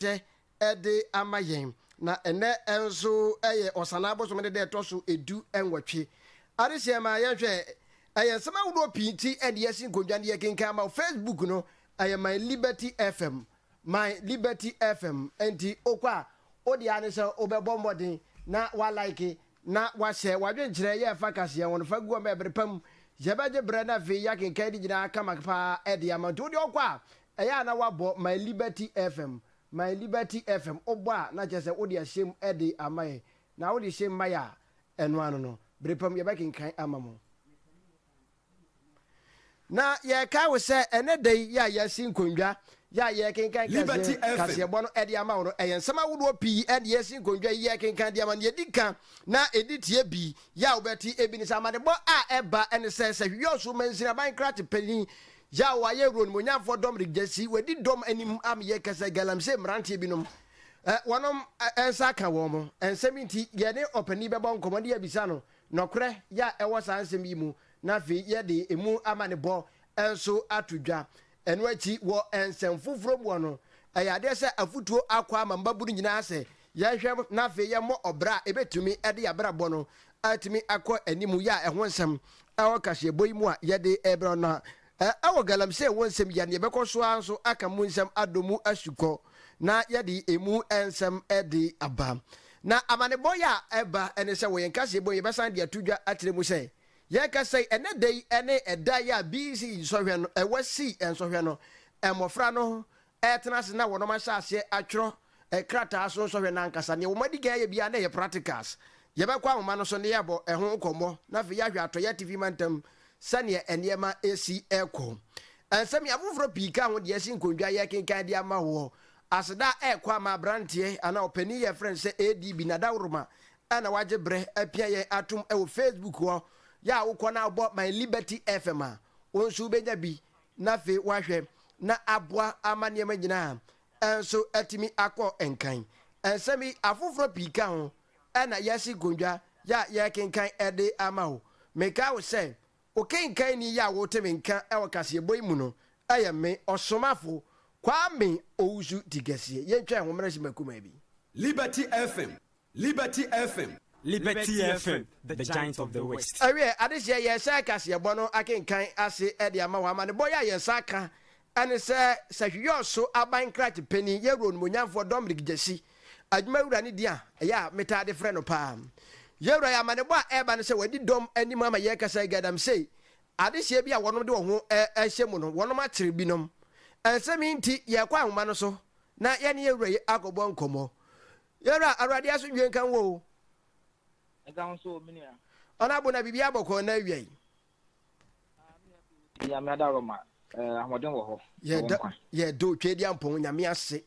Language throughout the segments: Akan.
ahyɛ de ama yɛn, na ɛnnɛ nso yɛ Ɔsanaa bosome no da ɛtɔ so du nwɔtwe. Adesua ma yɛnhwɛ, Ɛyɛ nsɛm ahodoɔ pii nti ɛde yɛasi nkondwa ne yɛkenkan ama wo. Facebook no ɛyɛ My Liberty FM, My Liberty FM, nti wokɔ a wode ara ne sɛ wobɛbɔ mmɔden na wa like na wahyɛ. W'adwenkyerɛ yɛ fa kaseɛ ho no fa gu hɔ ma ɛbere pa mu yɛbɛgye berɛ na afei yɛakenkan ne nyinaa kama paa de ama wo. Nti wodeɛ wokɔ a Ɛyɛ a na woabɔ My Liberty FM, My Liberty FM, wobɔ a na kyerɛ sɛ wode ahyɛ mu de ama yɛn, na wode hyɛ mu ma yɛn a, ɛno ano no, bere pa mu yɛbɛkenkan ama mo. Na yɛkae wo sɛ ɛnnɛ da yi yɛ a yɛasi nkonnwa yɛ a yɛrekenkan Liberty FM. kaseɛbɔ no de ama wo no, ɛyɛ nsɛm ahodoɔ pii na yɛasi nkonnwa yi yɛrekenkan de ama no. Deɛ ɛdi kan na ɛdi tie bi yɛ a wobɛte bi ne sɛ, amanebɔ a ɛba ne sɛ, sɛ hwewɛ ɔsoro mansini, aban krakye panin, Yaw wayɛ wuro no mu nyafoɔ dɔm regyasi wadi dɔm anim a meyɛ kɛsɛ galamsey mmeranteɛ binom ɛ wɔnom ɛ nsa aka wɔn mo nsɛm yi nti yɛne ɔpanin bɛbɔ nkɔmmɔ ne yɛabisa no nɔkorɛ yɛ a ɛwɔ saa nsɛm yi mu na afei yɛde ɛmu amanebɔ nso ato dwa ɛno akyi wɔ nsɛm foforɔ muɔ no ɛyɛ adeɛ sɛ afotuo akɔ ama mmabunu nyinaa sɛ Yɛnhwɛ na afei yɛmmɔ ɔbra a ebetumi de yɛn abrabɔ no atumi akɔ anim yɛ a ɛho nsɛm wɔ kaseɛbɔ yi mu a yɛde rebrɛ no no a. Wɔ galamsey ho nsɛm yi a, nea yɛbɛkɔ so ara nso aka mu nsɛm adɔ mu asukɔ na yɛde emu nsɛm de aba. Na amanebɔ yi a ɛba ne sɛ wɔ yɛn kaseɛbɔ yi mu yɛbɛsan de ato dwa akyerɛ mu sɛ, Yɛrekasa yi, ɛnnɛ da yi ne ɛda yi a BC nsɔhwɛ no, wɔsii nsɔhwɛ no, mmofra no ɛretena ase na wɔnom ahyɛ aseɛ atwerɛ krataa so nsɔhwɛ no ankasa. Neɛ wɔn adikan ayɛ biara na ɛyɛ practicals. Yɛbɛkɔ ahoma no so na yɛabɔ ɛho nkɔmmɔ na afei yɛahwɛ Atɔeɛ Atifi Mantam sɛdeɛ nneɛma ɛresi ɛrekɔ. Nsɛm afoforɔ pii ka ho deɛ ɛsi nkondwa a yɛrekenkan de ama woɔ. Aseda a ɛrekɔ ama aberanteɛ anaa ɔpanin yi a yɛfrɛ no sɛ ADB Nada Woroma a na wagye berɛ apia yɛn atom wɔ Facebook hɔ. Yɛ a wokɔ na wobɔ My Liberty FM a, wo nso wobɛnya bi na afei wahwɛ na aboa ama nneɛma nyinaa nso atumi akɔ nkan. Nsɛm yi, afoforɔ pii ka ho na yɛasi nkondwa yɛ a yɛrekenkan de ama wo. Mekae wo sɛ, okenkanni yi a wote me nka wɔ kaseɛbɔ yi mu no yɛ me ɔsomafo Kwame Owusu Tikɛseɛ. Yɛntwɛn ho mmerɛsima kumaa bi. Liberty FM Liberty FM. Liberty FM, the giant of the west. Awie, adehyeɛ yɛrehyɛ kaseɛbɔ no akenkan ase de ama wɔn amanebɔ yi a yɛn nsa aka ne sɛ Sahwiyɔɔ so aban krakye panin yɛ Wura Onimuonyamfoɔ Dominic Gyasi adwumawura ne din a ɛyɛ a metaa de frɛ no paa yɛ wura yi amanebɔ a ɛreba ne sɛ wadi dɔm anim ama yɛrekasa yi gaadamsey adehyeɛ bi a wɔnom de wɔn ho ahyɛ mu no wɔnom akyere binom nsɛm yi nti yɛrekɔ ahoma no so na yɛne yɛ wura yi akɔbɔ nkɔmmɔ Yɛwura, Awurade asomdwoe nka wo o. Ɛda ho so o, me nua. Ɔno abo na biribiara bɔ kɔɔ na awia yi. Nyame adaworoma, eh, ahoɔden wɔ hɔ. Yɛda Otweaduampɔn Nyame ase.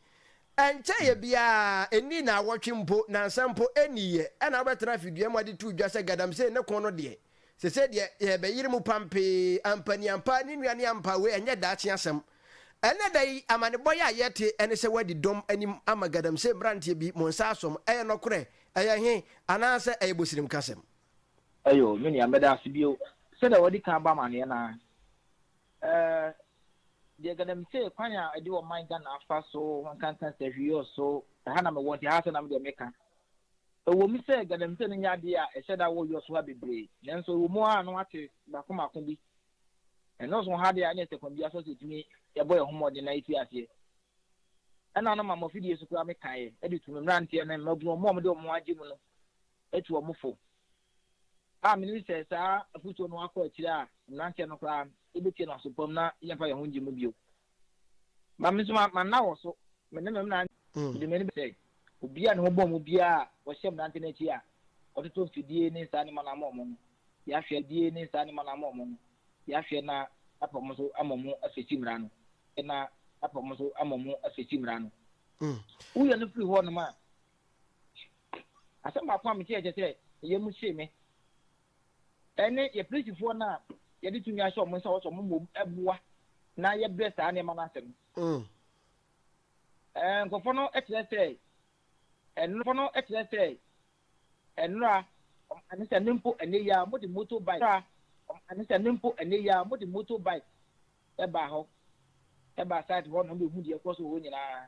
Ɛnkyɛeɛ biara, ɛnni nnawɔtwe mpo, nnansa mpo ɛnniiɛ, ɛna wobɛtena afidua mu ade too dwa sɛ galamsey ne ko no deɛ, sesei deɛ yɛrebɛyere mu pampee. Ampaniampaa, ne nua ne ampa, wei ɛnyɛ daakye asɛm. Ɛnnɛ da yi, amanebɔ yi a yɛte ne sɛ wɔadi dɔm anim ama galamsey mmeranteɛ bi, mo nsa asɔ mo. Ɛyɛ nɔkorɛ? Ɛyɛ he? Anaasɛ ɛyɛ bosirim kasɛm? Ɛyoo, me nua, meda ase bio. Sɛdeɛ wɔadi kan abɔ amanneɛ no ara, eh, deɛ galamsey kwan a ɛde ɔman Ghana afa so nkanka sahwiiɔ so, ɛha na mewɔ nti ɛha ara sɛ na me deɛ meka. Ɛwom sɛ galamsey no nyɛ adeɛ a ɛhyɛ da wɔ US ha bebree, nanso ɛwɔ mu ara a na wɔate baako mmaako bi Ɛnnɔɔso ha de a, ɛnna ɛsɛ kwan biara so sɛ yetumi bɔ yɛn ho mmɔden na yefi aseɛ. Ɛnna na maama afidie so koraa mekaeɛ de tu me mmeranteɛ ne mmabunu, wɔn a wɔde wɔn ho agye mu no, tu wɔn fo. A Menim sɛ saa afotuo no akɔ akyiri a, mmeranteɛ no koraa no, yebetie no aso pa mu na yɛremfa yɛn ho nnye mu bio. Ma me nso ma nna wɔ so, me ne me mmerante, mede m'ani bɛhwɛ sɛ obi a ne ho bɔn mu biara a ɔhyɛ mmerante no akyi a ɔtoto mfidie ne nsa anema no ama wɔn no, yɛahwɛ na mfidie ne nsa anema no ama wɔn no, yɛahwɛ na yɛapa wɔn so ama wɔn afirikyi mmara no, yɛahwɛ na yɛapa wɔn so ama wɔn afirikyi mmara no. Woyɛ no firi hɔnom a, asɛm baako a meteɛ kyɛ sɛ ɛyɛ mu hye me. ne yɛn polisifoɔ no a yɛde tumi ahyɛ wɔn nsa hɔ sɛ wɔmmom boa na yɛbrɛ saa nneɛma no ase no. Mm. Eh, nkurɔfoɔ no kyerɛ sɛ ɛnurɔfoɔ no kyerɛ sɛ ɛnura ɛne sɛ ne mpo ɛnɛ yi a wɔde moto bike ɛnura ɛne sɛ ne mpo ɛnɛ yi a wɔde moto bike ɛbaa hɔ ɛbaa site hɔ na wɔbɛhu deɛ ɛkɔ so wɔ hɔ nyinaa.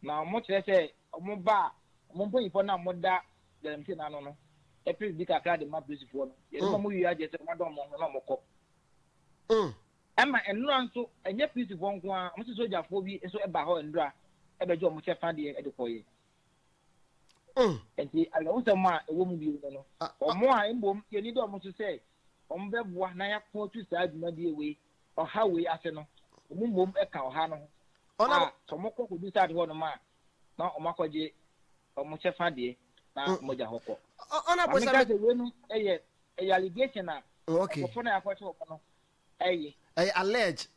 Na wɔkyerɛ sɛ wɔn ba a wɔn mpanyimfoɔ no a wɔda galamsey no ano no pere di kakra de ma polisifoɔ no. Yɛde ma wɔwie a kyerɛ sɛ wɔadɔn wɔn ho na wɔkɔ. Ɛma nnora nso, ɛnyɛ polisifoɔ nko ara, wɔsi sogyafoɔ bi nso baa hɔ nnora bɛgye wɔn kyɛfa deɛ de kɔeɛ. Enti awerɛhosɛm a ɛwɔ mu bio ne no, wɔn a mmom yɛn ani da wɔn so sɛ wɔbɛboa na yɛako atu saa dwumadie wei ɔhaw wei ase no, wɔn mmom ka ɔhaw no ho a, Ɔnam. sɛ wɔkɔ kɔbisa ade hɔnom a, na wɔakɔgye wɔn kyɛfa deɛ na Mm. wɔagya hɔ kɔ. Ɔ- Ɔna Maame bonsam ka no. sɛ weinom yɛ ɛyɛ allegation a Okay. nkurɔfoɔ no a yɛakɔgye wɔn no ɛyɛ, Ɛyɛ allege.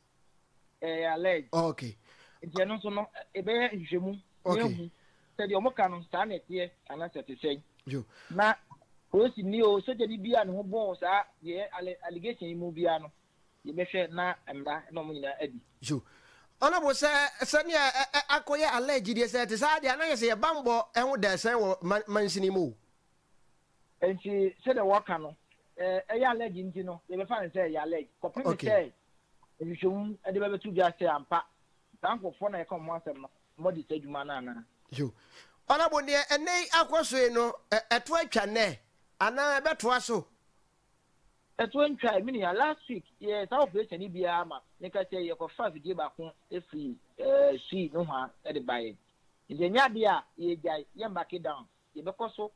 ɛyɛ allege. Okay. Nti ɛno nso no, ɛbɛyɛ nhwehwɛmu na Okay. yɛahu sɛ deɛ wɔka no saa na ɛteɛ anaasɛ ɛte sɛn. Yo. Na polisini o, sogyani bi a ne ho bɔn saa deɛ ɛyɛ alle- allegation yi mu biara no, Yɛbɛhwɛ na mmara na wɔn nyinaa adi. So Honourable sɛ sɛnea akɔyɛ alleged deɛ sɛ ɛte saa deɛ a na ayɛ sɛ yɛn bammɔ ho da ɛsɛn wɔ mansin yi mu o. Nti sɛdeɛ wɔka no ɛyɛ alleged nti no yɛbɛfa no sɛ ɛyɛ alleged kɔpem sɛ nhwehwɛmu de bɛbɛto dwa sɛ ampa saa nkorɔfoɔ na yɛka wɔn ho asɛm no wɔadi saa adwuma no anaa. So Honourable neɛ ɛnnɛ yi akɔ so yi no ɛto atwa nnɛ anaa ɛbɛtoa so Ɛtoɔ ntwae me nua, last week yɛyɛɛ saa operation yi bi ara ma me ka sɛ yɛkɔfa afidie baako firi eh, Sui nohoa de baeɛ. Nti ɛnyɛ adeɛ a yɛregyae, yɛn backe down, yɛbɛkɔ so.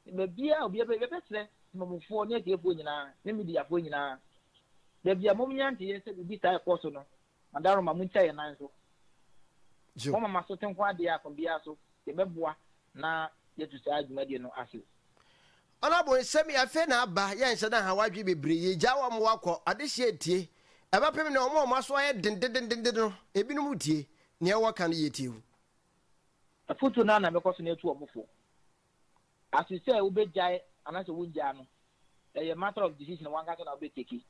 Baabiara a obiara bɛyɛ, yɛbɛsrɛ Temamufoɔ ne atiefoɔ nyinaa ne mediafoɔ nyinaa, baabi a momnya nteyɛ sɛ biribi saa rekɔ so no, M'adaroma, muntwa yɛn nan so. Moama m'asote ho adeɛ a kwan biara so yɛbɛboa na yɛatu saa dwumadie no ase. Ɔnabɔ nsɛm yi afei na aba, yɛnhyɛ da nhaw adwene bebree, yɛgyaa wɔn ma wɔakɔ, adehyeɛ retie, ɛbɛpem nnɛ wɔn a wɔn aso ayɛ den dendenden no, ebinom retie, nea wɔka no yɛ tiahu. Afotuo no ara na mɛkɔ so na atu wɔn fo ase sɛ wobɛgyae anaasɛ wongyaa no, ɛyɛ matter of decision wɔn ankasa na wobɛtake,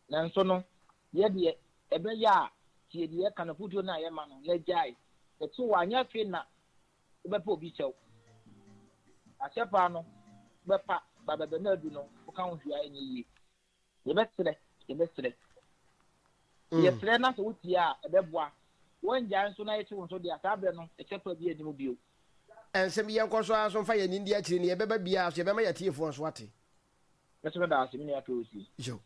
nanso no, Yɛ deɛ ɛbɛyɛ a tie deɛ yɛka no afotuo no a yɛma no na gyae ɛto wo anyɛ afei na wobɛpɛ obi kyɛw. Akyɛ paa no bɛpa ba bɛbɛ no adu no woka ho hwee a ɛnyɛ yie. Yɛbɛsrɛ yɛbɛsrɛ yɛsrɛ na sɛ wotie a ɛbɛboa. Woangyae nso na yɛkye wo nso deɛ a saa berɛ no ɛkyɛ pa biara nni mu bio. Nsɛm yi yɛnkɔ so ara nso mfa yɛn ani ndi akyire no yɛbɛba biara so yɛbɛma yɛatiefoɔ nso ate. Mɛsɛ no daase, me nua Kelsey. Yo.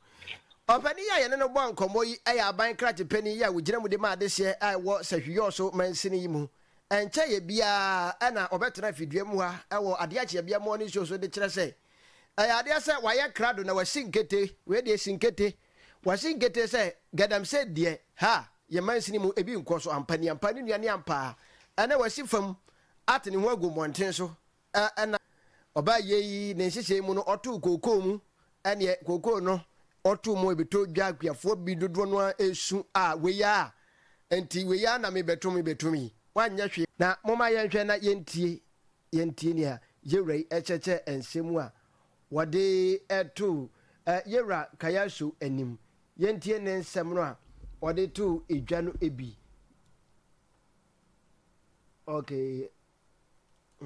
Ɔpanin yi a yɛne no bɔɔ nkɔmmɔ yi yɛ aban krakye panin yi a ɔgyina mu de ma adehyeɛ a ɛwɔ Sahwi-Yɔɔso mansini yi mu. Ɛnkyɛeɛ biara na ɔbɛtenaa fidua mu ha wɔ adeɛ akyeabeɛ mmɔɔ ne nsuo so de kyerɛ sɛ ɛyɛ adeɛ sɛ wayɛ krado na wasi nkete. Wei deɛ asi nkete. Wasi nkete sɛ Galamsey deɛ, ha yɛn mansini mu ebi nkɔ so. Ampa ni ampa, ne nua ne ampa. Ɛnnɛ wasi fam ate ne ho agu mmɔnten so a ɛna ɔbaa yei ne nhyehyɛe mu no ɔtoo kookoo mu ɛneɛ kookoo no ɔtoo mu ɛbɛtɔ dwa akuafoɔ bi dodoɔ no ara ɛresu a wei ara nti wei ara na mebɛto mebɛtom yi wanyɛ hwee. Na momma yɛnhwɛ na yɛntie yɛntie nea yɛwura yi ɛkyɛkyɛ nsɛm a wɔde too yɛwura Kayasu anim yɛntie ne nsɛm no a ɔde too dwa no bi okay.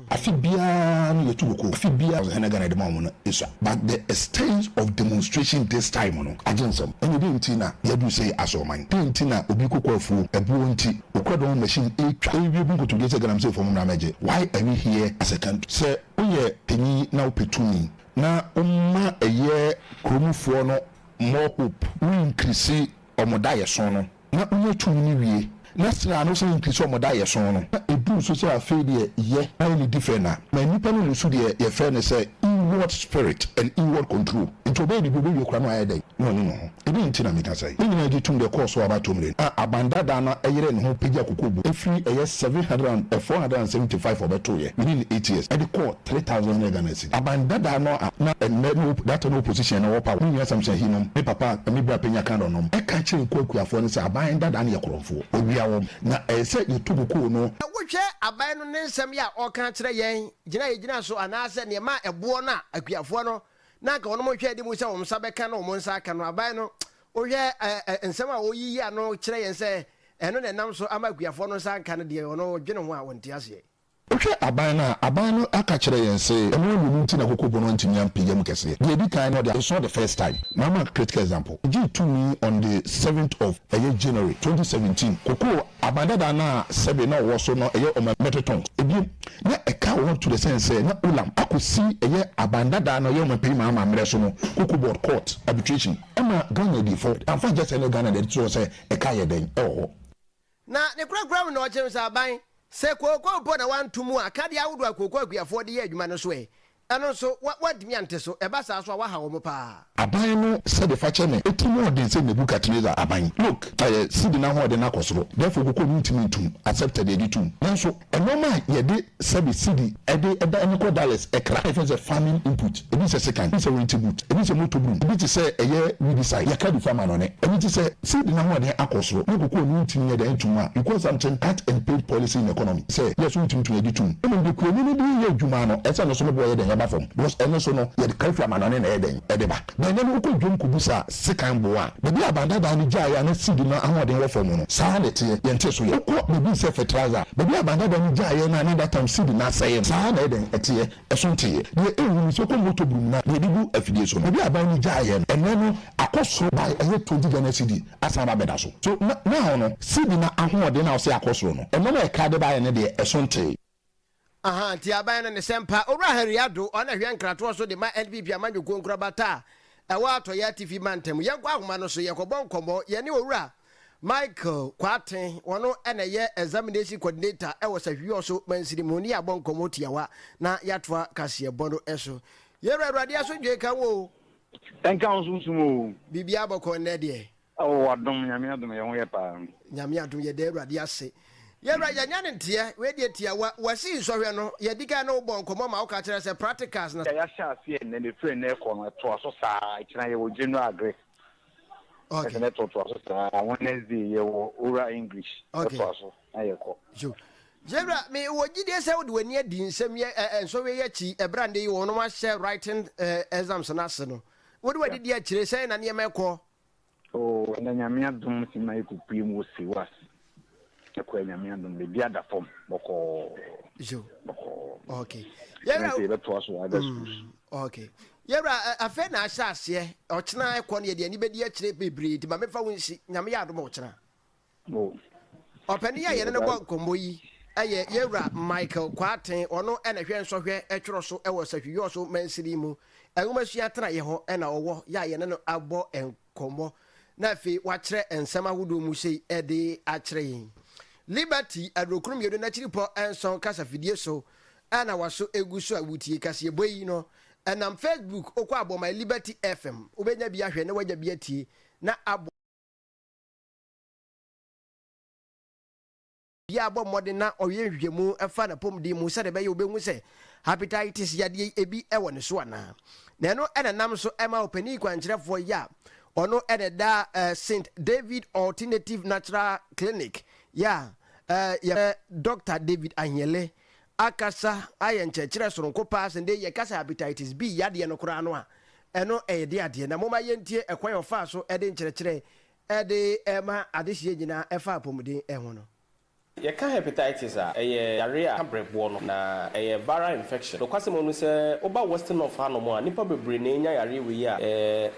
Afe biara no yɛtu no ko. Afe biara no Hena Ghana yɛde ma wɔn no sua. But the extent of demonstration this time no agye nsɛm. Ɛnneɛ dɛn nti na yɛaduru sɛi Asoɔman? Dɛn nti na obi kɔkɔ afuo, ɛboɔ nti, ɔkura dɔn machine retwa rewie gu nkotodwe sɛ Ganamseefoɔ mommra mmɛgye? Why are we here as a country? Sɛ woyɛ panyin na wopɛ tumi na woma ɛyɛ kuromufoɔ no more hope, wo increase wɔn daeɛso no. na onya tumi no wie, na sra no san pi sɛ ɔmo da yɛsõ no, na edu so sɛ afei deɛ yɛ ayɛ ne difɛ na, ma nnipa no nso deɛ yɛfrɛ no sɛ inward spirit and inward control, nti ɔbɛyɛ biribi ɔbɛwie koraa na wayɛ dɛn? Na ɔne ne ho. Ɛdeɛn nti na meka sɛi? Ne nyinaa gye tom deɛ ɛkɔɔ so aba atomire no, a aban daadaa no yerɛɛ ne ho pagyaa kokobo firi ɛyɛ seven hundred and four hundred and seventy five a ɔbɛtoeɛ within eight years ɛde kɔɔ three thousand hundred Ghana cedis. Aban dada no a na ndɛ no that time no opposition no wɔ power no nyina Samson Ahi nom ne papa Kwame Bra Penya Kandor nom ɛka kyerɛ nkuwa kuafoɔ no sɛ aban dada no yɛ korɔnfoɔ wɔwia wɔn na ɛyɛ sɛ yɛtu no koo no Sɛ wo hwɛ aban no ne nsɛm yi a ɔreka akyerɛ yɛn, gyina a yɛgyina so anaa sɛ neɛ ɛmaa ɛboɔ no a akuafoɔ no na anka wɔnom hwɛ adi mu sɛ wɔn nsa bɛka na wɔn nsa aka no aban no wo hwɛ ɛ nsɛm a ɔreyiyi ano kyerɛ yɛn sɛ ɛno na ɛnam so ama akuafoɔ no nsa anka no deɛ ɔno dwene ho a ɔnte aseɛ. Wohwɛ aban no a, aban no aka kyerɛ yɛn se mmoa mmienu nti na koko bono antumi ampagya mu kɛseɛ. Deɛ edi kan no ɔde I saw the first time, mama critical example, egyee tumi on the seventh of ɛyɛ January twenty seventeen. Koko aban dadaa no a sɛbe na ɔwɔ so no ɛyɛ ɔma metric tons. Ebiem, na ɛka wɔn to the sense sɛ na Olam akosi ɛyɛ aban dadaa no a ɛyɛ ɔma pii ma amammerɛ so no koko board court arbitration. Ɛma Ghana adiifo amfa ankyɛ sɛ ne Ghana deɛ ɛde to hɔ sɛ ɛka yɛ dɛn ɛwɔ hɔ. Na ne korakora mu na ɔkye nsraban. Sɛ kooko mpo na wanto mu a, akadeɛ ahodoɔ a kooko akuafoɔ de yɛ adwuma no nso ɛ? Ɛno nso, wa, wantumi ante so. Ɛba saa nso a, waha wɔn pa ara. Aban no sɛde fakyɛ na eti mu ɔden sɛ Nebukadnesar aban. Look, ɛyɛ sidi no ahoɔden no akɔ soro, therefore kooko no ntumi ntom, accepted, yɛgye tom. Nanso, Nnoɔma a yɛde sɛbe cedi de dan no kɔ Dallas, kra a yɛfrɛ no sɛ farming input, ebi sɛ sekan, ebi sɛ winter boot, ebi sɛ motor broom, ebi te sɛ ɛyɛ weedicide, yɛka bi fa ma no ne. Ɛno nti sɛ seed no ahoɔden akɔ soro na kokoa no ntumi nyɛ dɛn nto mu a, you call something cut and paid policy in economy sɛ yɛ so wotumi to yɛgye tom. Mmom deɛ kuani no de yɛ adwuma no ɛsɛ no so no boɔ yɛ dɛn ɛba fam because ɛno so no yɛde kra fi amanɔne na ɛyɛ dɛn ɛde ba. Na ɛnnɛ no wokɔ dwom kɔbisa sekan boɔ a, baabi a Banda Dan no gyaeɛ a na CD no ahoɔden wɔ fam no, saa ara na ɛteɛ. Yɛntee so yɛ. Wokɔ baabi te sɛ Fertilizer a, baabi a Banda Dan no gyaeɛ no a na that time CD no asɛeɛ no, saa ara na ɛyɛ dɛn? Ɛteɛ. Ɛso nteeɛ. Deɛ ɛnhu no, sɛ wokɔ motor burum no a, deɛ ɛde gu afidie so no, baabi a aban no gyaeɛ no, ɛnnɛ no akɔ soro by ɛyɛ twenty Ghana CD asan aba abɛda so. So, na, now no, CD no ahoɔden a wɔse akɔ soro no, ɛno na ɛkra de baeɛ no deɛ, ɛso ntee. Aha nti aban no ne sɛ mpa. Owura Harry Addo, ɔno na ɛhwɛ nkratoɔ so de ma NPP amanyɔkuo nkorabata a ɛwɔ atɔeɛ atifi mantam. Yɛn kɔ ahoma no so, yɛkɔbɔ nkɔmmɔ. Yɛne Owura Michael Kwarteng, ɔno na ɛyɛ Examination Coordinator wɔ Sahwiɔso Mansini mu, ne yɛabɔ nkɔmmɔ tiawa na yɛatoa kaseɛbɔ no so. Yɛn wura, Awurade asomdwoe nka wo o. Ɛnka wo nso wo som o. Biribiara bɔkɔɔ nnɛ deɛ. Oh ɔdom nyame adom yɛ ho yɛ paa. Nyame adom yɛda awurade ase. Yɛwura yɛnyɛ no nteɛ. Wei deɛ tiawa. Wasii nsɔhwɛ no yɛdi kan ne wo bɔɔ nkɔmmɔ ma woka kyerɛɛ sɛ practicals na. Yɛahyɛ aseɛ nnɛ na ɛfiri nnɛ rekɔ no ɛtoa so saa. Ɛkyena yɛwɔ general agric. Okay. Ɛsɛ na ɛtoatoa so saa. Wednesday yɛwɔ oral English. Okay. Ɛtoa so na yɛkɔ. So yɛwura me wɔ gyidie sɛ wode w'ani adi nsɛm yɛ ɛ nsɔhwɛ yi akyi ɛberɛ a nnɛ yi wɔnom ahyɛ writing ɛ exams no ase no. Wode w'ani di akyire sɛn na nneɛma ɛkɔ Oh ɛnɛ Nyame adom sima yi kɔ pue mu wɔ Sewo ase ɛkɔ ɛ Nyame adom baabi ada fam bɔkɔɔ bɔkɔɔ okay yɛwura ɛnɛ yɛbɛ toa so other mm, schools okay yɛwura afei na ahyɛ aseɛ ɔkyena ɛkɔ no yɛde ani bɛdi akyire bebree nti ma mefa wo nsi Nyame yɛ adom ɔkyena Ɔpanin a yɛne no bɔ nkɔmmɔ yi yɛ Yɛwura Michael Kwarteng, ɔno na ɛhwɛ nsɔhwɛ twerɛ so wɔ Sahwi-Yorso Mansini mu, Nwomasua Atenaeɛ hɔ na ɔwɔ yɛ a yɛne no abɔ nkɔmmɔ na afei wakyerɛ nsɛm ahodoɔ mu sei de akyerɛ yɛn. Liberty Adurokron Mmienu N'akyiripɔ Nson Kasafidie so na waso gu so a wotie kaseɛbɔ yi no ɛnam Facebook, wokɔ abɔ my Liberty FM wobɛnya bi ahwɛ na woanya bi atie na aboa Obiara bɔ mmɔden na ɔyɛ nhwehwɛmu fa n'apɔmuden mu sɛdeɛ ɛbɛyɛ obehu sɛ hepatitis yadeɛ yi ebi wɔ ne so anaa. Na ɛno na ɛnam so ma ɔpanin kwankyerɛfoɔ yi a ɔno na ɛda Saint David Alternative Natural Clinic yi a yɛfrɛ Dɔkta David Ahiele akasa ayɛ nkyerɛkyerɛ soronko paa sɛ dee yɛka sɛ hepatitis B yadeɛ no koraa no a ɛno ɛyɛ dee adeɛ. Na momma yɛntie ɛkwan a ɔfaa so de nkyerɛkyerɛ Ɛde ma adehyeɛ nyinaa ɛfa apɔmuden ho no. Yɛka hepatitis a, ɛyɛ yareɛ a ɛka berɛboɔ no, na ɛyɛ viral infection. Nokwasɛm wɔ mu sɛ, woba Western North hanom a, nnipa bebree na ɛnya yareɛ wei a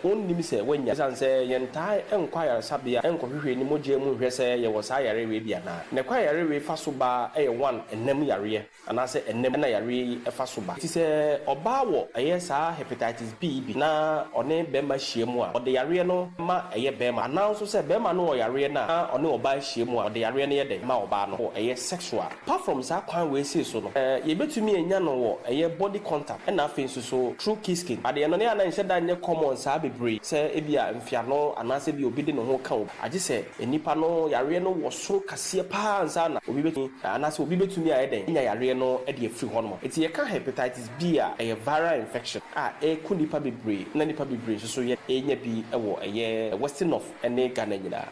wɔnnim sɛ wɔanya. Ɛsiane sɛ yɛntaa nkɔ ayaresabea nkɔhwehwɛ ne mogyaa mu nhwɛ sɛ yɛwɔ saa yareɛ wei bi anaa. Na ɛkwan a yareɛ wei fa so ba yɛ one, ɛnam yareɛ. Anaasɛ ɛnnɛ mu na yareɛ yi fa so ba. Enti sɛ ɔbaa wɔ ɛyɛ saa hepatitis B yi bi na ɔne bɛrima hyia mu a, ɔde yareɛ no ma ɛyɛ bɛrima. Anaa nso sɛ bɛrima no wɔ yareɛ no a na ɔne ɔbaa hyia mu a, ɔde yareɛ no yɛ dɛn? Ma ɔbaa no wɔ ɛyɛ sexual. Apart from saa kwan wei sei so no, eh, yɛbɛtumi anya no wɔ ɛyɛ body contact ɛna afei nso so through kisking. Adeɛ no ne a na ɛnhyɛ da nyɛ common saa bebree sɛ ebia mfeano anaasɛ ebia obi de ne ho ka obi. Agye sɛ nnipa no yareɛ no wɔ soro kaseɛ paa ansa na obi bɛtumi anaasɛ obi bɛtumi ayɛ dɛn anya yareɛ no de afiri hɔ nom. Nti yɛka Hepatitis B a, ɛyɛ viral infection a ɛku nnipa bebree na nnipa bebree nso so yɛnya bi wɔ ɛyɛ Western North ne Ghana nyinaa.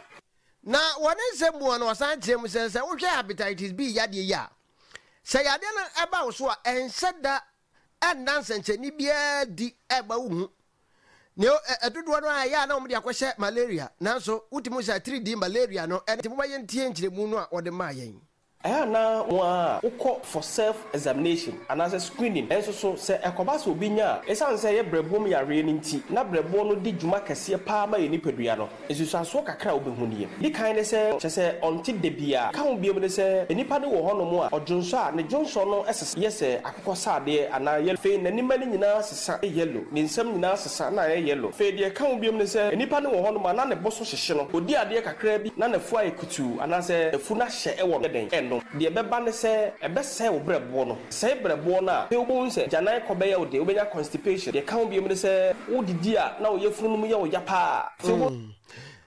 Na wɔ ne nsɛm mu hɔ no ɔsan kyerɛ mu sɛ, sɛ wohwɛ Hepatitis B yadeɛ yi a, sɛ yadeɛ no ba wo so a ɛnhyɛ da ɛnna nsɛnkyerɛnne biara adi ɛmma wohu. Nea ɛ, ɛdodoɔ no ara ɛyɛ a na wɔde akɔhyɛ malaria, nanso wotumi hu sɛ atiridii malaria no ɛne. Nti momma yɛntie nkyerɛmu no a wɔde maa yɛn. Ɛyɛ a na wɔn a wokɔ for self examination anaasɛ screening nso so, sɛ ɛkɔba sɛ obi nya a, esiane sɛ ɛyɛ brɛboɔ mu yareɛ no nti, na brɛboɔ no di dwuma kɛseɛ paa ma yɛn nipadua no. Nsusuansoɔ kakra a wobɛhu nie. Di kan ne sɛ, kyerɛ sɛ ɔnte da bi a. Ka ho biom ne sɛ, nnipa bi wɔ hɔnom a ɔdwonsɔ a, ne dwonsɔ no sesa yɛ sɛ akokɔsradeɛ anaa yellow. Afei n'ani mma no nyinaa sesa yɛ yellow, ne nsam nyinaa sesa na ayɛ yellow. Afei deɛ ɛka ho biom ne sɛ, nnipa no wɔ hɔnom a na ne bo so hyehye no, ɔdi adeɛ kakra bi na n'afu ayɛ kutuu anaasɛ afu no ahyɛ wɔ no yɛ dɛn, ɛno deɛ ɛbɛba ne sɛ ɛbɛsɛe wo berɛboɔ no. Sɛe berɛboɔ no a, afei wobɛhunu sɛ agyanan kɔ bɛyɛ wo den, wobɛnya constipation. Deɛ ɛka ho biom ne sɛ, wodidi a na wo yafunu no mu yɛ wo ya pa ara a, afei wobɛ.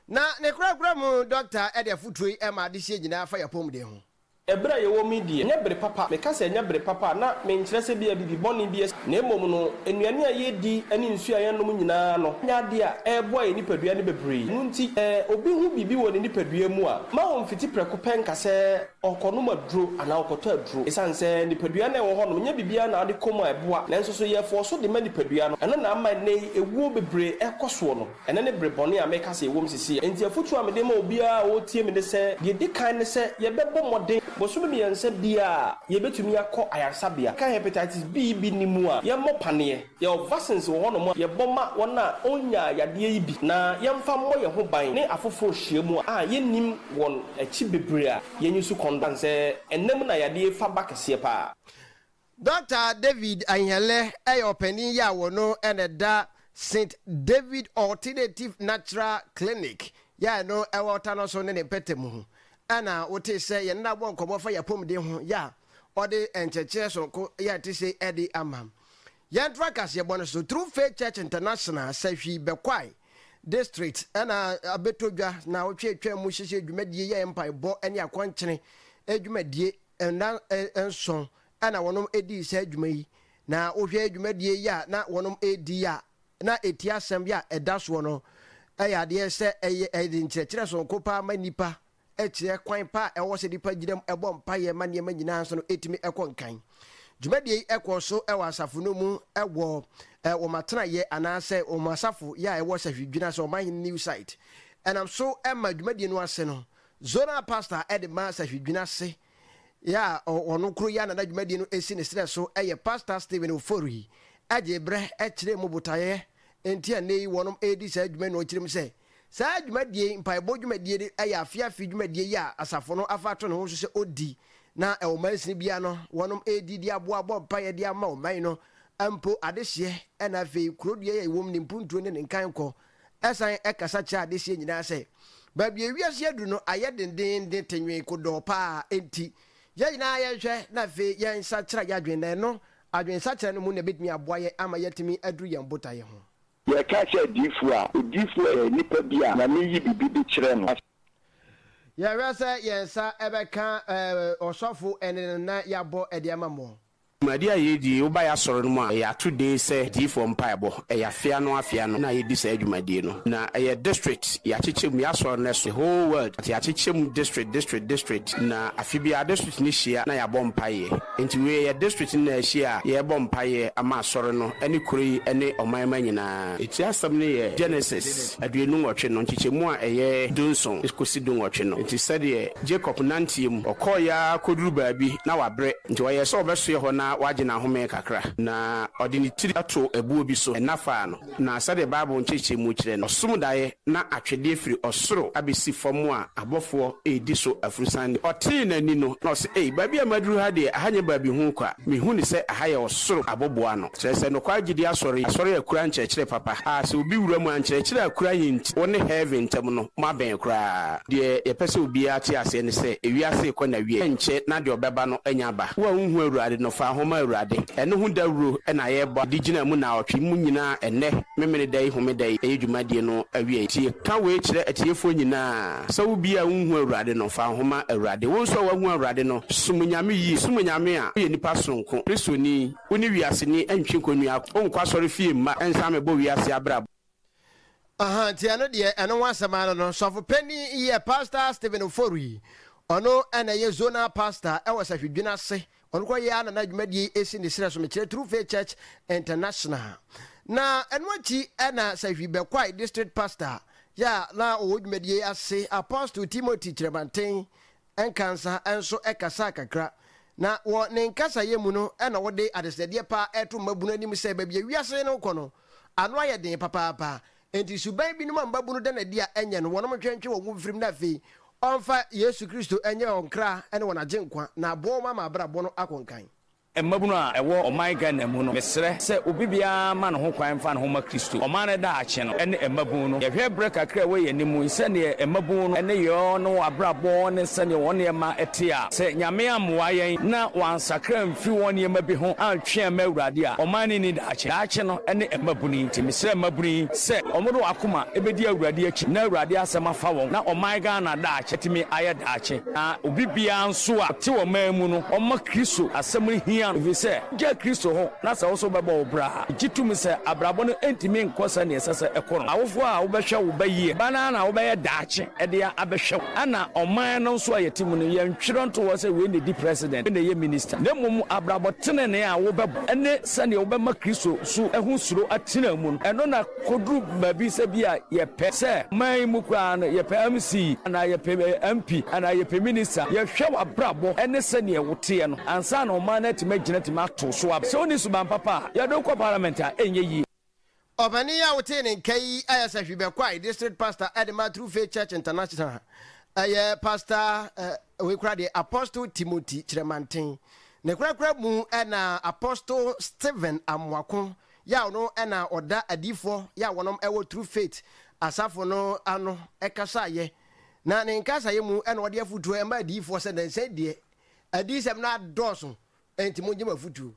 Na ne korakora mu dɔkta de afotuo yi ma adehyeɛ nyinaa fa y'apɔmuden ho. Ɛberɛ a yɛwɔ mu yi deɛ, ɛnyɛ bere papa, meka sɛ ɛnyɛ bere papa a, na menkyerɛ sɛ ebia biribi bɔne bi asi, na mmom no, nnuane a yɛdi ne nsuo a yɛnom nyinaa no nyɛ adeɛ a ɛreboa yɛn nipadua no bebree. Ɛno nti, sɛ obi hu biribi wɔ ne nipadua mu a, mma ɔmfiti prɛko pɛ nka sɛ, Ɔkɔnom aduro anaa ɔkɔtɔ aduro. Esiane sɛ nipadua no a ɛwɔ hɔnom nyɛ biribiara na ade kɔ mu a ɛboa, nanso so yɛfɔɔ so de ma nipadua no. Ɛno na ama nnɛyi awuo bebree ɛkɔ soɔ no. Ɛnɛ ne bere bɔne a meka sɛ yɛwom sesie. Enti afotuo a mede ma obiara a ɔretie me ne sɛ, deɛ ɛdi kan ne sɛ yɛbɛbɔ mmɔden bosome mmiɛnsa biara a yɛbɛtumi akɔ ayaresabea, ka hepatitis B bi nni mu a, yɛmmɔ paneɛ. Yɛwɔ vaccines wɔ hɔnom a yɛbɔ ma wɔn a wɔnnyaa yadeɛ yi bi na yɛmfa mmɔ yɛn ho ban ne afoforɔ nhyiamu a yɛnnim wɔn akyi bebree a yɛnyi so kɔn dan sɛ ɛnna mu na yadeɛ yi fa ba kɛseɛ pa ara. Dɔkta David Ahiele yɛ ɔpanin yi a wɔno na ɛda St David Alternative Natural Clinic yi a ɛno ɛwɔ Ɔta no so ne ne mpɛtɛ mu ho ɛna wotee sɛ yɛne no abɔ nkɔmmɔ fa yɛ apɔmuden ho yi a ɔde nkyerɛkyerɛ sononko yi a ɛte sei de ama. Yɛtra kaseɛbɔ no so True Faith Church International Sahwi Bekwai District na abɛtɔ dwa na ɔtwe atwa mu hyehyɛ dwumadie yɛ mpaebɔ ne akwankyene dwumadie nna nson na wɔnom dii saa dwuma yi na wohwɛ dwumadie yi a na wɔnom redi yi a na ɛti asɛm yi a ɛda soɔ no ɛyɛ adeɛ sɛ ɛyɛ ɛde nkyerɛkyerɛ sononko paa ma nnipa kyerɛ kwan pa a ɛwɔ sɛ nnipa gyina mu bɔ mpaeɛ ma nneɛma nyinaa nso no ɛtumi kɔ nkan. Dwumadie yi kɔɔ so wɔ asafo no mu wɔ wɔn atenaeɛ anaasɛ wɔn asafo yɛ a ɛwɔ Sahwidwin ase, Ɔmanhene New Site. Ɛnam so ma dwumadie no ase no, Zonal Pastor de ma Sahwidwin ase Yɛ a ɔno koro yɛ na n'adwumadie no si ne serɛ so yɛ Pastor Stephen Ofori gyee berɛ kyerɛɛ mu botaeɛ nti a nnɛ yi wɔredi saa dwuma yi na ɔkyerɛ mu sɛ, Saa dwumadie yi, mpaebɔ dwumadie no yɛ afe afe dwumadie yi a asafo no afa ato ne ho so sɛ ɔdi na ɔmansini biara no wɔredi de aboa abɔ mpaeɛ de ama ɔman no mpo adehyeɛ na afei kurodua yi a yɛwɔ mu ne mpuntuo ne ne nkankɔ Ɛsan kasa kyerɛ adehyeɛ nyinaa sɛ, baabi a ewiase aduru no ayɛ dendeenden tenwee kodɔɔ pa ara, enti yɛn nyinaa yɛnhwɛ na afei yɛnsakyera yɛn adwene, na ɛno, adwensakyera no mu na ɛbɛtumi aboa yɛn ama yɛatumi aduru yɛn botaeɛ ho. Yɛreka sɛ adiyifoɔ a, odiyifoɔ yɛ nipa bi a Nyame yi biribi de kyerɛ no. Yɛhwɛ sɛ yɛn nsa bɛka ɔsɔfo ɛne no na yɛabɔ de ama mo. Dwumadi a yɛredi yi, woba yɛn asɔre no mu a, yɛato din sɛ Adiyifoɔ Mpaebɔ. Ɛyɛ afe ano afe ano na yɛdi saa dwumadie no. Na ɛyɛ district, yɛakyekyɛ mu, yɛn asɔre no ɛso the whole world, but yɛakyekyɛ mu district, district, district. Na afe biara district no hyia na yɛabɔ mpaeɛ. Enti wei yɛ district no nyinaa hyia a yɛrebɔ mpaeɛ ama asɔre no ne kuro yi ne ɔman mma nyinaa. Eti asɛm no yɛ Genesis. aduonu nwɔtwe no, nkyekyɛmu a ɛyɛ dunson kosi dunwɔtwe no. Enti sɛdeɛ Jacob nanteɛ mu, ɔkɔeɛ ara kɔduru baabi, na wabrɛ, enti ɔyɛɛ sɛ ɔbɛsoɛ hɔ na wagye n'ahome kakra. Na ɔde ne tiri too ɛboɔ bi so, ɛna faa no. Na sɛdeɛ Bible nkyerɛkyerɛmu kyerɛ no, ɔsom daeɛ na atwedeɛ firi ɔsoro abɛsi fam a abɔfoɔ redi so afurusa nne. Ɔtee n'ani no, na ɔse, Ei, baabi a maduru ha deɛ, ɛha nyɛ baabi ho kwa. Mehu no sɛ ɛha yɛ ɔsoro aboboano. Kyerɛ sɛ nokwar gyidi asɔr yi, asɔr a ekura nkyerɛkyerɛ papa a sɛ obi wura mu a nkyerɛkyerɛ a ekura nye ntsi wo ne heaven ntamu no mo abɛn koraa. Deɛ yɛpɛ sɛ obiara te aseɛ ne sɛ ewiase rekɔ n'awieɛ nkyɛ na deɛ ɔbɛba no anya aba. Wo a wonhu Awurade no, fa ho ma Awurade. Ɛno ho dawuro na yɛrebɔ de gyina mu naawɔtwe yi mu nyinaa ɛnnɛ, Memeneda yi Homeda yi ɛyɛ dwumadie no awieɛ. Tie, ka wei kyerɛ atiefoɔ nyinaa, sɛ wo biara a wonhu Awurade no, fa ho ma Awurade. Wo nso a woahu Awurade no, som Onyame yie. Som Onyame a, woyɛ nipa sononko, Kristoni. Wo ne wiase ni ntwe nkonnua ako. Wo nkɔ asɔre fie mma nsa mmɛbɔ wiase abrabɔ. Aha nti ɛno deɛ ɛno ho asɛm ara no sɔfo panin yɛ pastor Stephen Ofori ɔno na ɛyɛ zonal pastor ɛwɔ Sahwidwene ase ɔno kora yɛ ara na n'adwumadie yi si ne serɛ so mekyerɛ True Faith Church International na ɛno akyi na Sahwi Bɛkwae district pastor yɛ a na ɔwɔ dwumadie yi ase Apostle Timothy Kyerɛmanten Nkansah nso kasaa kakra, na wɔ ne nkasayɛ mu no na ɔde adesrɛdeɛ pa ara reto mmabunu anim sɛ baabi a wiase no rekɔ no, ano ayɛ den papaapa, enti suban binom a mmabunu da no adi a ɛnyɛ no wɔnom ntwentwe wɔn ho mfirim na afei ɔmfa Yesu Kristo nyɛ wɔn kra ne wɔn agyenkwa na aboa wɔn ama abrabɔ no akɔ nkan. Mmabunu a ɛwɔ ɔman Ghana mu no, mesrɛ sɛ obi biara ma ne ho kwan mfa ne ho mma Kristo. Ɔman no daakye no ne mmabunu no. Yɛhwɛ berɛ kakra a ɛwɔ yɛn anim yi, sɛdeɛ mmabunu no ne yɔɔ ne wɔn abrabɔ ne sɛdeɛ wɔn nneɛma te a, sɛ Nyame ammoa yɛn na wɔansakra amfiri wɔn nneɛma bi ho antwe amma Awurade a, ɔman no nni daakye. Daakye no ne mmabunu yi. Nti mesrɛ mmabunu yi sɛ wɔde wɔn akoma bɛdi Awurade akyi na Awurade asɛm afa wɔn na ɔman Ghana daakye atumi ayɛ daakye. Na obi biara nso a ɔte ɔman mu no, ɔma Kristo asɛm no hia no, ɛfiri sɛ wogyaa Kristo hɔ, na sɛ wo nso wobɛbɔ wo bra a, megye tom sɛ abrabɔ no ntumi nkɔ sɛdeɛ ɛsɛ sɛ ɛkɔ no. Awofoɔ a wobɛhwɛ wo ba yie, ba no ara na wobɛyɛ daakye de abɛhwɛ wo. Ɛna ɔman no nso a yɛte mu no, yɛntwerɛ nto hɔ sɛ wei na ɛdi president, wei na ɛyɛ minister, na mmom abrabɔ tenenee a wobɛbɔ ne sɛdeɛ wobɛma Kristo nso ho suro atena mu no, ɛno na Koduru baabi sɛ bi a yɛpɛ sɛ man yi mu koraa no yɛpɛ MC anaa yɛpɛ MP anaa yɛpɛ Minister. Yɛhwɛ w'abrabɔ ne sɛdeɛ woteɛ no ansa na ɔman no atumi agyina atumi ato wo so aba. Sɛ wonni suban papa a, yɛde wo kɔ Parliament a, ɛnyɛ yie. Ɔpanin yi a wotee ne nka yi ayɛ sɛ Hwi Bɛkwae District Pastor de ma True Faith Church International. Ɛyɛ Pastor eh, wei kora deɛ Apostle Timothy Kyerɛmanten. Ne korakora mu na Apostle Stephen Amoako Yaw no na ɔda adiyifoɔ yɛ a wɔnom wɔ True Faith asafo no ano kasaayɛ, na ne nkasaayɛ mu na ɔde afutuo ma adiyifoɔ sɛ nansa yi deɛ adiyisɛm no adɔɔso enti mongye m'afutuo.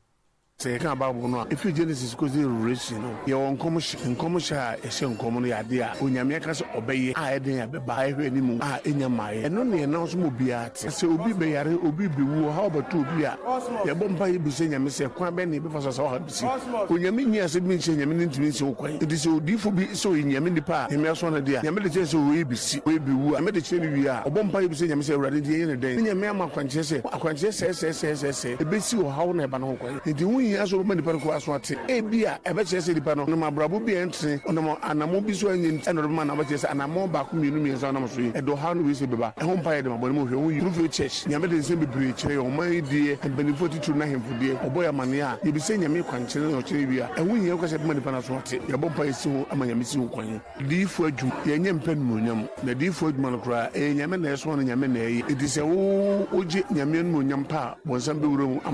Sɛ yɛka Bible no a, efi Genesis kosi Revelation no, yɛwɔ nkɔmhyɛ. Nkɔmhyɛ a ɛhyɛ nkɔm no yɛ ade a Onyame aka sɛ ɔbɛyɛ, a ɛden a ɛbɛba, a ɛhwɛ anim a ɛnya mmaeɛ. Ɛno na yɛnam so ma obiara. Sɛ obi bɛyare, obi bewu, ɔhaw bɛto obi a, yɛbɔ mpae bisa Nyame sɛ, Kwan bɛn na yɛbɛfa so a saa ɔhaw yi besi? Onyame nnyee asɛm bi nkyerɛɛ Nyame na entumi nsi ho kwan. Enti sɛ odiyifo bi sɛ ɔyɛ Nyame nipa a Nyame asoma no de a, Nyame de kyerɛ sɛ wei besi, wei bewu a, Nyame de kyerɛ no wie a, ɔbɔ mpae bisa Nyame sɛ, Awurade, enti yɛnyɛ no dɛn? Na Nyame ama akwankyerɛ sɛ, Akwankyerɛ sɛɛsɛɛsɛɛsɛɛ besi ɔhaw na ɛba no ho kwan. Enti ho hia sɛ wobɛma nnipa no kɔ aso ate. Ebia ɛbɛkyerɛ sɛ nipa no nam abrabɔ bi a ɛntene, ɔnam anammɔn bi so a ɛnyɛ nti na ɔde bɛma anaa wobɛkyerɛ sɛ anammɔn baako, mmienu, mmiɛnsa a ɔnam so yi, ɛde ɔhaw ne wesee bɛba. Ɛho mpaeɛ de ma bɔne mu nhwɛ. Ho yi Bloomfield Church, Nyame de nsɛm bebree kyerɛ yɛn, ɔman yi deɛ, mpaninfoɔ atitiriw no ahemfo deɛ, ɔbɔ yɛn amaneɛ a, yɛbisa Nyame kwankyerɛ na ɔkyerɛ wie a, ɛho hia woka sɛ bɛma nipa no aso ate. Yɛbɔ mpaeɛ si ho ma Nyame si ho kwan. Diyifo adwuma, yɛnyɛ mpɛ animuonyam. Na diyifo adwuma no koraa, ɛyɛ Nyame na ɛsoma no, Nyame na ɛyɛ. Enti sɛ wo wogye Nyame animuonyam pɛ a, bɔnsam bɛwura mu ama no.